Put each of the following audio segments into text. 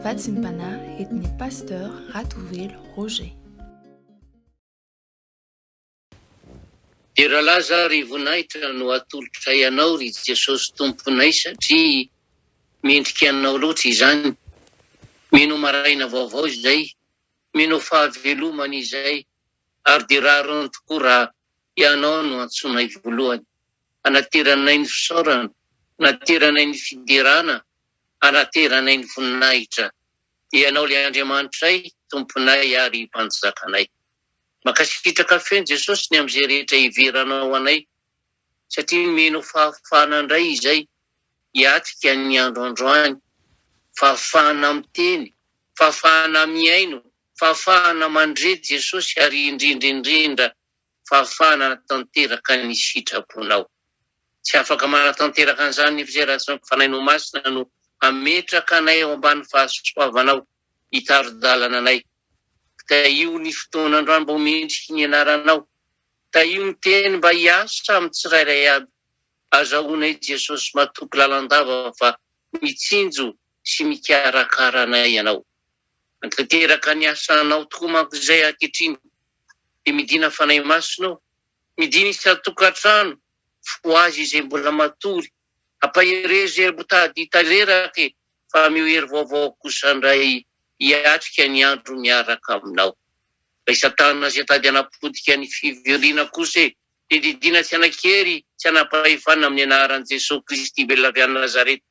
Vatsim-panahy entin'ny Pasteur Ratovelo Roger. Dia rahalahy izaho ry voninahitra no atolotray anao ry Jesosy Tomponay satria mendrika anao loatra izany, mino ho maraina vaovao izay, mino ho fahavelomana izay ary dia rariny tokoa raha ianao no antsoinay voalohany. Hanateranay ny fisaorana, hanateranay ny fiderana, hanateranay ny voninahitra. Ianao ilay Andriamanitray, Tomponay ary Mpanjakanay. Mankasitraka feno Jesosy ny amin'izay rehetra heveranao ho anay, satria nomenao fahafahana indray izay hiatrika ny andro androany, fahafahana miteny, fahafahana mihaino, fahafahana mandre Jesosy ary indrindra indrindra fahafahana tanteraka ny sitraponao. Tsy afaka manatanteraka an'izany ny fizeratsy ny Fanahinao Masina no hametraka anay ao ambany fahasoavanao hitari-dalana anay. Tahio ny fotoana androany mba ho mendriky ny Anaranao. Tahio ny Teny mba hiasa amin'ny tsirairay aby. Azahoanay Jesosy matoky lalandava fa mitsinjo sy mikarakara anay Ianao. Hanatanteraka ny asanao tokoa manko izay ankehitriny dia midina fanahy masina ao, midina isan-tokantrano, ho azy izay mbola matory, ampaherezo ery mitady tanteraka e, fa ameo hery vaovao kosa indray hiatrika ny andro miaraka aminao. Ilay satana izay tady hanapotika ny fivoriana kosa e, dia didiana tsy hanan-kery, tsy hanam-pahefana amin'ny anaran'i Jesoa Kristy velona avy any Nazareta.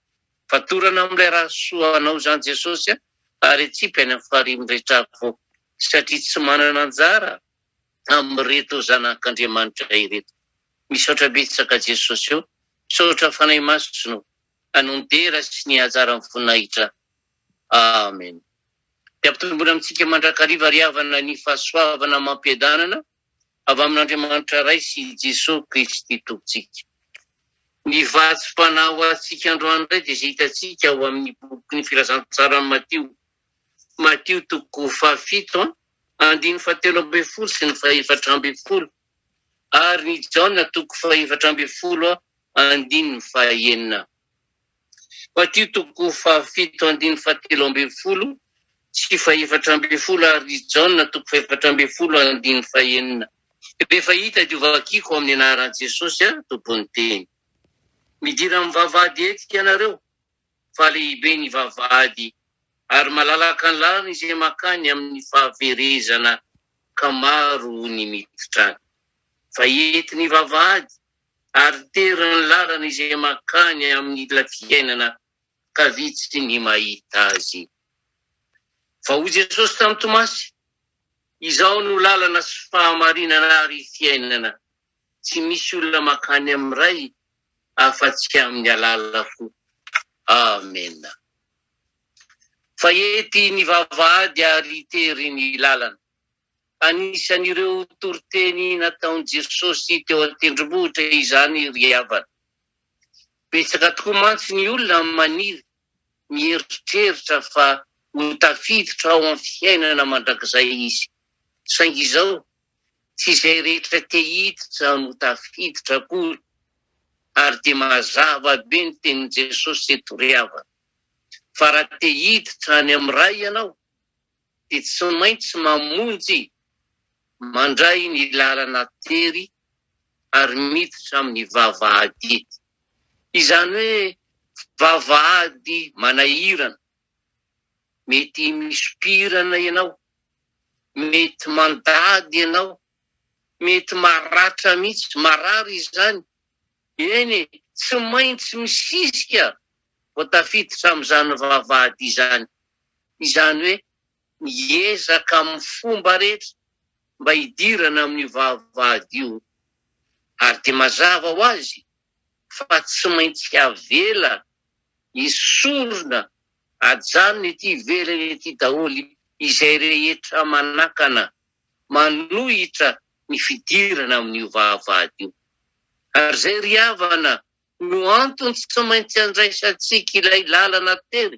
Fatorana amin'ilay raha soa anao izany Jesosy a, ary atsipy any amin'ny farihin'ny rehetra avy eo. satria tsy manana anjara amin'ireto zanak'Andriamanitra ireto. Misaotra betsaka Jesosy o! Misaotra Fanahy Masina o! Hanon dera sy ny hajaran'ny voninahitra. Amen. Dia ampitomboina amintsika mandrakariva ry havana ny fahasoavana amam-piadanana avy amin'Andriamanitra Ray sy i Jesosy Kristy Tompontsika. Ny vatsim-panahy ho antsika androany indray dia izay hitantsika ao amin'ny bokin'ny Filazantsaran'i Matio Matio toko fahafito andininy fahatelo ambin'ny folo sy ny fahefatra ambin'ny folo ary ny Jaona toko fahefatra ambin'ny folo andininy fahaenina. Matio toko fahafito andininy fahatelo ambin'ny folo sy fahefatra ambin'ny folo ary ny Jaona toko fahefatra ambin'ny folo andininy fahaenina. Rehefa hita dia hovakiko amin'ny anaran'i Jesosy Tompon'ny teny. Midira amin'ny vavahady eto ianareo. fa lehibe ny vavahady, ary malalaka ny lalana izay mankany amin'ny fahaverezana ka maro ny miditra any. Fa hety ny vavahady ary tery ny lalana izay mankany amin'ny ila fiainana ka vitsy ny mahita azy. Fa hoy Jesosy tamin'i Tomasy, Izao no lalana sy fahamarinana ary fiainana, Tsy misy olona makany amin'ny Ray afa-tsy amin'ny alalako. Amena. Fahety ny vavahady ary tery ny lalana. Anisan'ireo toriteny nataon'i Jesosy teo an-tendrombohitra izany ry havana. Betsaka tokoa mantsy ny olona maniry, mieritreritra fa ho tafiditra ao amin'ny fiainana mandrakizay izy. Saingy izao Tsy izay rehetra te hiditra no tafiditra akory, ary dia mazava be ny tenin'i Jesosy eto ry havana, fa raha te hiditra any amin'ny Ray ianao dia tsy maintsy mamonjy mandray ny lalana tery ary miditra amin'ny vavahady, izany hoe vavahady manahirana, mety misompirana ianao, Mety mandady ianao, mety maratra mihitsy, marary izany, eny e, tsy maintsy misisika vao tafiditra amin'izany vavahady izany, izany hoe miezaka amin'ny fomba rehetra mba hidirana amin'io vavahady io, ary dia mazava ho azy fa tsy maintsy avela Esorina ajanony ety ivelany ety daholo izay rehetra manakana, manohitra ny fidirana amin'io vavahady io. Ary zay ry havana no antony tsy maintsy andraisantsika ilay lalana tery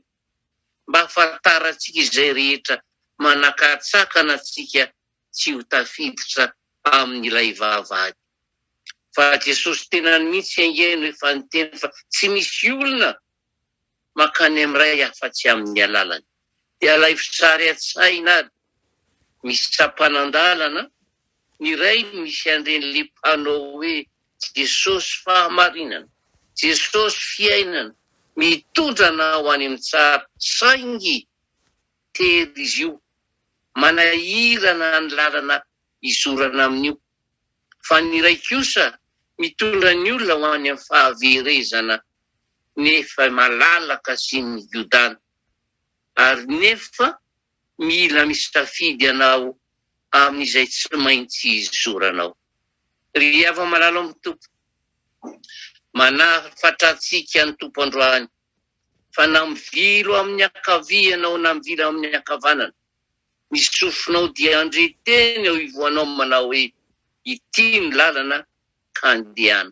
mba ahafantarantsika izay rehetra manakatsakana antsika tsy ho tafiditra amin'ilay vavahady. Fa Jesosy tenany mihitsy ange no efa niteny fa tsy misy olona mankany amin'ny Ray afa-tsy amin'ny alalany. Dia alaivo sary an-tsaina ary misy sampanan-dalana ny rainy misy an'ireny panneau hoe Jesosy fahamarinana, Jesosy fiainana, mitondra anao any amin'ny tsara, saingy, Tery izy io. Manahirana ny lalana izorana amin'io. Fa ny iray kosa mitondra ny olona ho any amin'ny fahaverezana nefa malalaka sy migodana. Ary nefa mila misafidy ianao amin'izay tsy maintsy izoranao. Ry hava-malala ao amin'ny Tompo, manafatra antsika ny Tompo androany. fa na mivilo amin'ny ankavia ianao na mivilo amin'ny ankavanana, ny sofinao dia handre teny eo ivoanao manao hoe, Ity no lalana, ka andehana.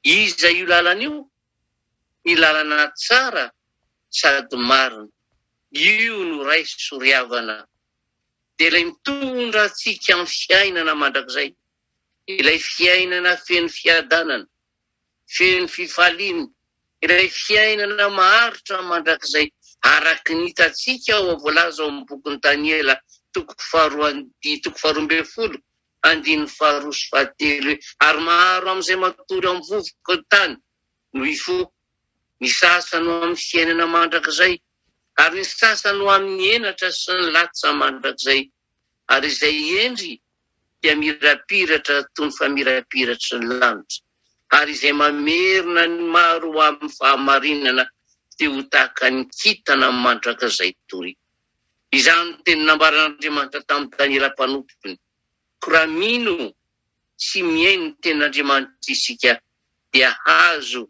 Iza io lalana io? Ny lalana tsara sady marina. Io no Ray soriavana. Dia Ilay mitondra antsika amin'ny fiainana mandrakizay, ilay fiainana feno fiadanana, feno fifaliana, ilay fiainana maharitra mandrakizay araka ny hitantsika ao voalaza ao amin'ny bokin'i Daniela toko faharoa andihy toko faharoa ambin'ny folo andininy faharoa sy fahatelo hoe ary maro amin'izay matory amin'ny vovoka ny tany no hifoha, ny sasany ho amin'ny fiainana mandrakizay ary ny sasany ho amin'ny henatra sy ny latsa mandrakizay. ary izay hendry dia mirapiratra toy ny famirapiratry ny lanitra, ary izay mamerina ny maro ho amin'ny fahamarinana dia ho tahaka ny kintana mandrakizay toy. Izany no teny nambaran'Andriamanitra tamin'i Daniela mpanompony, Koa raha mino sy mihaino ny tenin'Andriamanitra isika, dia hahazo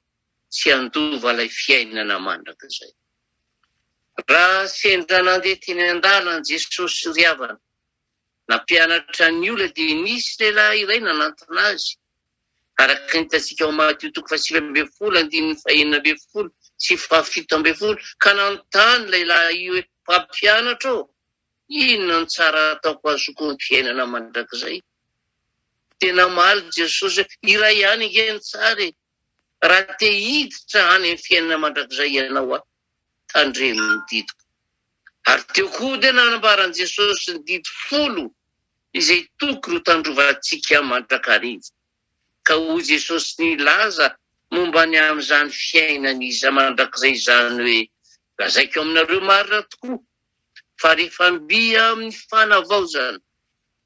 tsy handova ilay fiainana mandrakizay. Raha sendra nandeha teny an-dalana Jesosy ry havana, nampianatra ny olona dia nisy lehilahy iray nanantona Azy, araka ny hitantsika ao Matio toko fahasivy ambin'ny folo andininy fahenina ambin'ny folo sy fahafito ambin'ny folo, ka nanontany ilay lahy io hoe, Mpampianatra ô, inona no tsara ataoko ho azoko amin'ny fiainana mandrakizay? Dia namaly Jesosy hoe, Iray ihany ange no tsara e, Raha te hiditra any amin'ny fiainana mandrakizay ianao aho, tandremo ny didiko. Ary teo koa dia nanambaran'i Jesosy ny didy folo izay tokony ho tandrovantsika mandrakariva. Ka hoy Jesosy nilaza momba ny amin'izany fiainana iza mandrakizay izany hoe, Lazaiko aminareo marina tokoa, fa rehefa mby amin'ny fanavaozana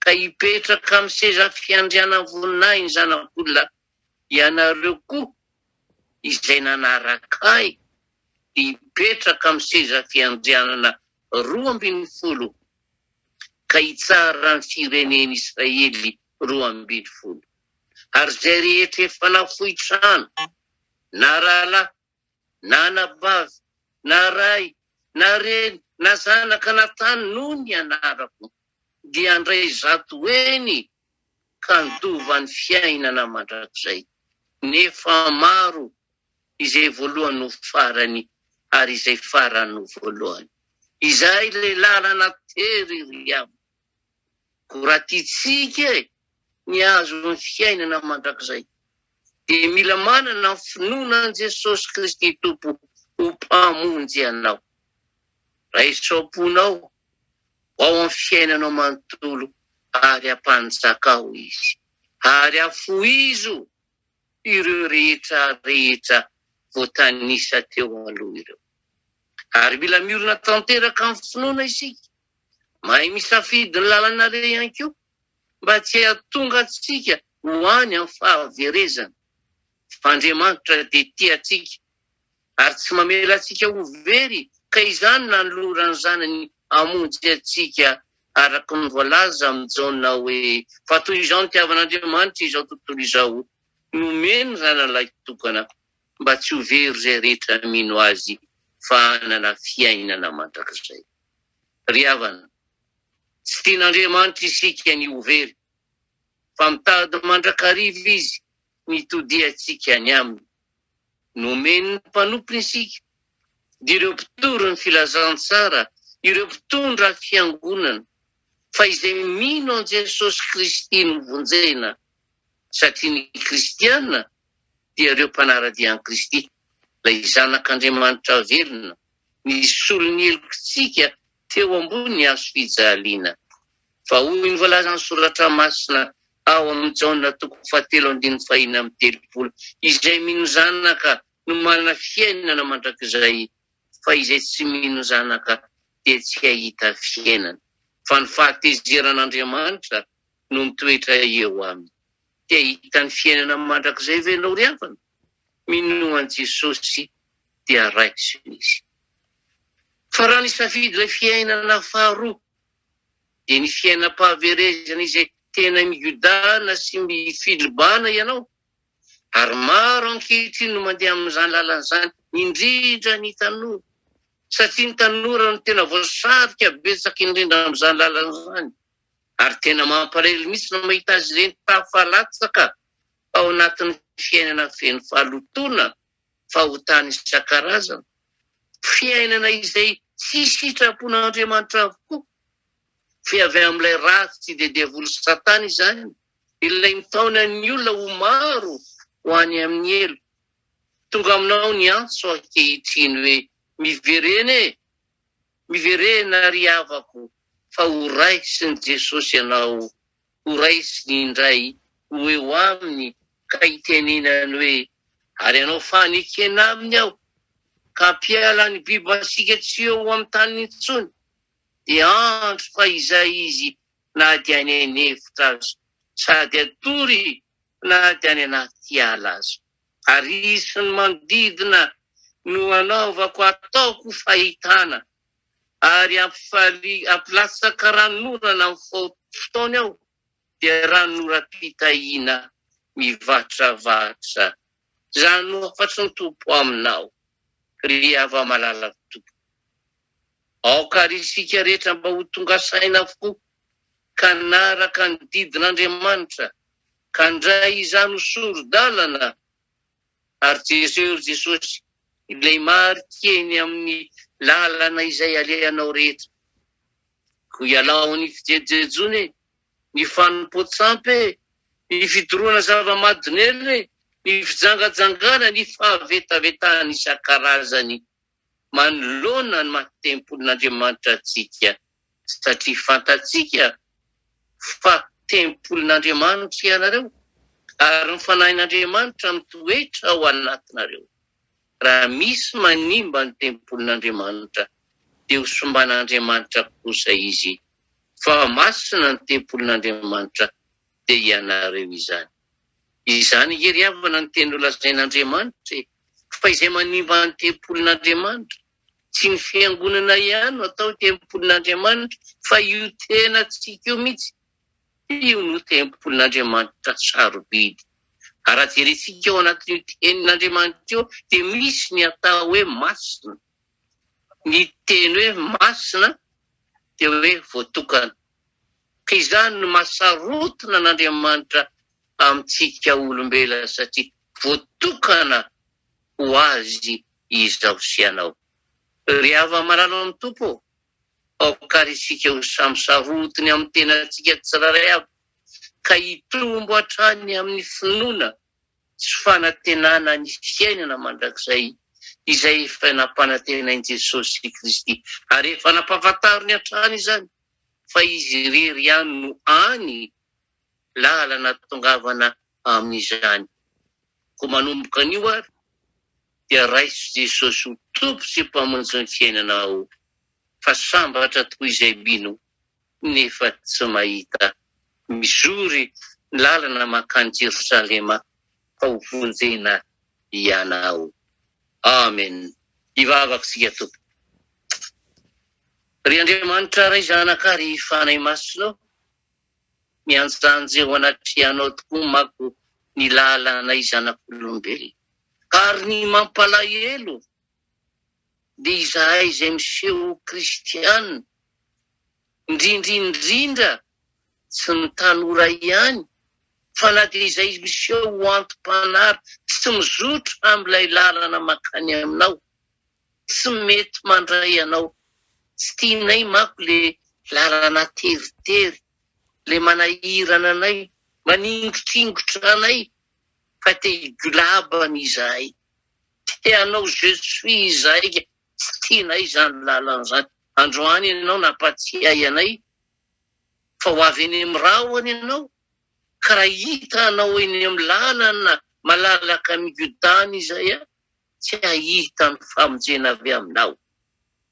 ka hipetraka amin'ny seza fiandrianan'ny voninahiny ny Zanak'olona, Ianareo koa izay nanaraka ahy dia hipetraka amin'ny seza fiandrianana roa ambin'ny folo, ka hitsara ny firenen'Israely roa ambin'ny folo. Ary izay rehetra efa nafoy trano, na rahalahy na anabavy, na ray, na reny, na zanaka, na tany, noho ny anarako, dia handray zato heny ka handova ny fiainana mandrakizay. Nefa maro izay voalohany ho farany, ary izay farany ho voalohany. Izay ilay lalana tery, ry havana. Raha tiantsika ny hahazo ny fiainana mandrakizay, dia mila manana ny finoana an'i Jesosy Kristy Tompo ho Mpamonjy anao. Raiso am-ponao ho ao amin'ny fiainanao manontolo ary hampanjaka ao Izy, ary hafohizo ireo rehetra rehetra voatanisa teo aloha ireo. Ary mila miorina tanteraka amin'ny finoana isika Mahay misafidy ny lalana re ihany koa mba tsy hahatonga antsika ho any amin'ny fahaverezana, fa Andriamanitra dia tia antsika ary tsy mamela antsika ho very ka izany nanoloran'ny Zanany hamonjy antsika araka ny voalaza amin'i Jaona hoe, Fa toy izao nitiavan'Andriamanitra izao tontolo izao, nomeny ny Zanalahitokana mba tsy ho very izay rehetra mino Azy fa hanana fiainana mandrakizay. Ry havana, tsy tian'Andriamanitra isika ny ho very, fa mitady mandrakariva Izy nitodiantsika ny Aminy. Nomen'ny Mpanompony isika, dia ireo mpitory ny Filazantsara, ireo mpitondra Fiangonana, fa izay mino an'i Jesosy Kristy no vonjena, satria ny Kristiana dia ireo mpanara-dia an'i Kristy, ilay Zanak'Andriamanitra velona, nisolo ny helokitsika teo ambonin'ny hazo fijaliana. Fa hoy ny voalazan'ny Soratra Masina ao amin'i Jaona toko fahatelo andininy fahina amby telopolo, Izay mino Zanaka no manana fiainana mandrakizay, fa izay tsy mino Zanaka dia tsy hahita fiainana, fa ny fahatezeran'Andriamanitra no mitoetra eo aminy. Te hahita ny fiainana mandrakizay ve ianao ry havana? Minoa an'i Jesosy dia raiso izy. Fa raha nisafidy ilay fiainana faharoa, dia ny fiainam-pahaverezana izay tena miodana sy mifilibana ianao, ary maro ankehitriny no mandeha amin'izany lalana izany, indrindra ny tanora, satria ny tanora no tena voasarika betsaka indrindra amin'izany lalana izany. Ary tena mampalahelo mihitsy ny mahita azy ireny tafalatsaka ao anatin'ny fiainana feno fahalotoana, fahotana isan-karazany, fiainana izay tsy sitrapon'Andriamanitra avokoa, fe avy amin'ilay ratsy sy dia devoly Satana izany, ilay mitaona ny olona ho maro ho any amin'ny helo. Tonga aminao ny antso ankehitriny hoe, miverena e! Miverena ry havako fa ho raisin'i Jesosy ianao, ho raisiny indray, ho eo aminy ka hitenenany hoe, ary hanao fanekena aminy aho, ka hampiala ny bibasiaka tsy eo amin'ny tany intsony, dia andro fa izay izy na dia any an'efitra aza, sady hatory na dia any anaty ala aza. Ary sy ny manodidina no anaovako ataoko fahitana, ary ampilatsaka ranonorana amin'ny fotoany aho, dia ranonoram-pitahiana mivatrravatra. Izany no hafatry ny Tompo aminao, ry hava-malalan'ny Tompo. Aoka ary isika rehetra mba ho tonga saina avokoa ka hanaraka ny didin'Andriamanitra, ka handray izany ho sori-dalana ary Jesoa ry Jesosy ilay marika eny amin'ny lalana izay alehanao rehetra ko ialao ny fijejojejoana e, ny fanompoan-tsampy e, ny fidorohana zava-madonelina e, ny fijangajangana, ny fahavetavetana isan-karazany. manoloana ny maty tempolin'Andriamanitra antsika satria fantatsika fa tempolin'Andriamanitra ianareo ary ny Fanahin'Andriamanitra mitoetra ao anatinareo. Raha misy manimba ny tempolin'Andriamanitra dia ho simban'Andriamanitra kosa izy fa masina ny tempolin'Andriamanitra dia ianareo izany. Izany hery havana no teny nolazain'Andriamanitra e! Fa izay manimba ny tempolin'Andriamanitra, tsy ny fiangonana ihany no atao tempolin'Andriamanitra fa io tenantsika io mihitsy, io no tempolin'Andriamanitra sarobidy. Ary raha jerentsika ao anatin'io tenin'Andriamanitra io dia misy ny atao hoe masina. Ny teny hoe masina dia hoe voatokana. Ka izany no maha sarotiny an'Andriamanitra amintsika olombelona satria voatokana ho Azy izaho sy ianao. Ry havana malala ao amin'ny Tompo ô, aoka àry isika ho samy sarotiny amin'ny tenantsika tsirairay avy, ka hitombo hatrany amin'ny finoana sy fanantenana ny fiainana mandrakizay izay efa nampanantenain'i Jesosy Kristy ary efa nampahafantariny hatrany izany. fa izy irery ihany no any lalana ahatongavana amin'izany. Koa manomboka anio ary dia raiso Jesosy ho Tompo sy Mpamonjy ny fiainanao fa sambatra tokoa izay mino nefa tsy mahita mizory ny lalana mankany Jerosalema fa ho vonjena ianao. Amen! Hivavaka isika Tompo. Ry Andriamanitra Ray Zanaka ary Fanahy Masina ô, mianjanja eo anatrehanao tokoa manko ny lalanay zanak'olombelona, ary ny mampalahelo dia izahay izay miseho ho kristiana, indrindra indrindra tsy ny tanora ihany fa na dia izay miseho ho anti-panahy tsy mizotra amin'ilay lalana mankany aminao, tsy mety mandray anao tsy tianay manko le lalana teritery le manahirana anay maningotr'ingotra anay fa te higolabana izahay te hanao je suis izahay ka tsy tianay izany lalana izany androany ianao nampatsiahy anay fa ho avy eny amin'ny rahona ianao ka raha hita anao eny amin'ny lalana malalaka migodàna izahay tsy hahita ny famonjena avy aminao.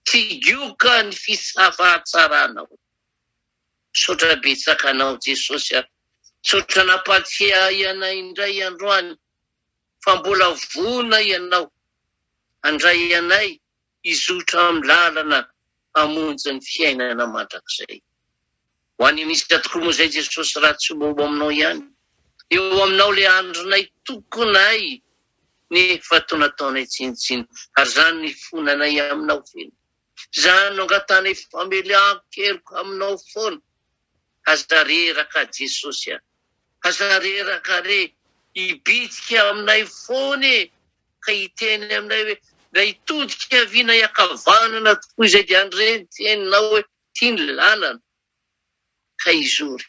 Tsigioka ny fisafahatsaranao. Misaotra betsaka anao Jesosy a. Misaotra nampatsiahy anay indray androany fa mbola vonona ianao handray anay hizotra amin'ny lalana hamonjy ny fiainana mandrakizay. Ho any an'isa tokoa moa izay Jesosy raha tsy mba ho aminao ihany? Eo aminao ilay andronay tokonay nefa toa nataonay tsinontsinona ary izany nifona anay aminao feno. Izany no angatanay famelan-keloka aminao foana. Aza reraka Jesosy a! Aza reraka re! Hibitika aminay foana e! ka hiteny aminay hoe mba hitodika havia na hiakavanana tokoa izay dia handreny teninao hoe ity ny lalana ka hizory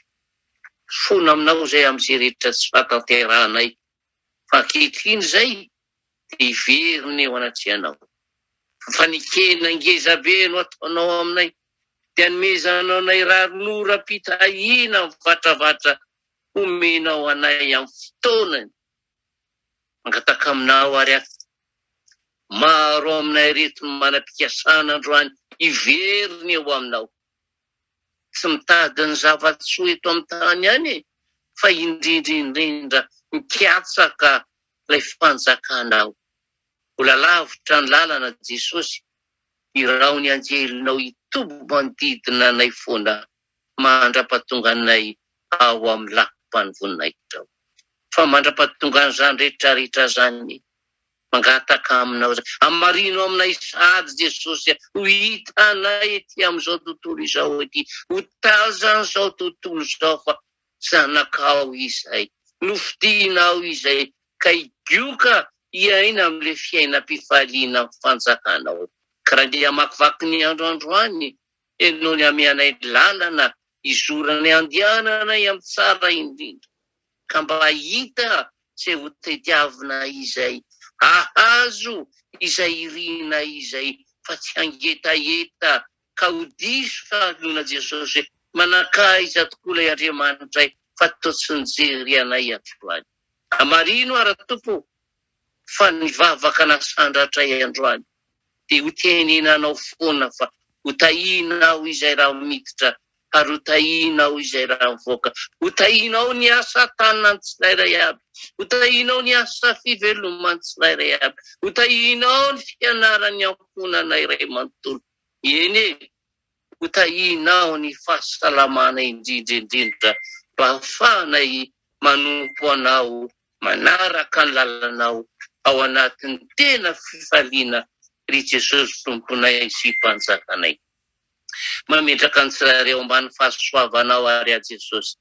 fona aminao izay amin'izay rehetra tsy fahatanterahanay fa ankehitriny izay dia hiverina eo anatrehanao fa fanekena ngezabe no ataonao aminay dia anomezanao anay rarinoram-pitahiana mivatravatra homenao anay amin'ny fotoanany Mangataka aminao ary aho, maro aminay ireto no manam-pikasana androany hivery ny eo aminao. Tsy mitady ny zava-tsoa eto amin'ny tany ihany e, fa indrindra indrindra mikatsaka ilay fanjakanao. Mbola lavitra ny lalana Jesosy, iraho ny anjelinao hitoby manodidina anay foana. mandra-pahatonganay ao amin'ny lafim-panovoninahitra ao. Fa mandra-pahatongan'izany rehetrarehetra izany, mangataka aminao izany, hamarino aminay sahady Jesosy ho hitanay ety amin'izao tontolo izao ety, ho tazan'izao tontolo izao fa Zanakao izay, nofidianao izay ka higioka hiaina amin'ilay fiainam-pifaliana amin'ny fanjakanao. Ka raha ndeha hamakivaky ny andro androany Dia nony ameanay ny lalana hizorany handiananay amin'ny tsara indrindra, ka mba hahita izay ho tediavinay izay, hahazo izay irinay izay, fa tsy hangetaheta ka ho diso fahaloana Jesosy hoe, Manakaiza tokoa ilay Andriamanitray fa toa tsy nijery anay hatrany. Hamarino aho, Ra-Tompo, fa ny vavaka nasandratra ahy androany dia ho tenenanao foana fa ho tahiana aho izay rano miditra ary ho tahiana aho izay rano mivoaka, ho tahianao ny asa tanan'ny tsirairay avy, ho tahianao ny asa fiveloman'ny tsirairay avy, ho tahianao ny fianaran'ny ankohonana iray manontolo, eny e! Ho tahianao ny fahasalamana indrindra indrindra mba hahafahanay manompo Anao, manaraka ny lalanao ao anatin'ny tena fifaliana ry Jesosy Tomponay sy Mpanjakanay. Mametraka ny tsirairay ao ambany fahasoavanao ary aho Jesosy.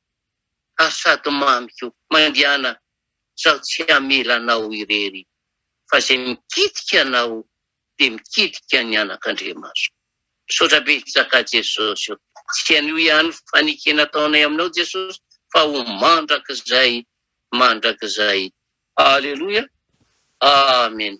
ary sady mamy ko, mandiana zaho tsy hamela anao irery fa zay mikitika anao de mikitika ny anak'Andriamasoko. Misaotra betsaka Jesosy o! Tsy an'io ihany fanike nataonay aminao Jesosy fa ho mandrakizay mandrakizay. Aleloia Amen.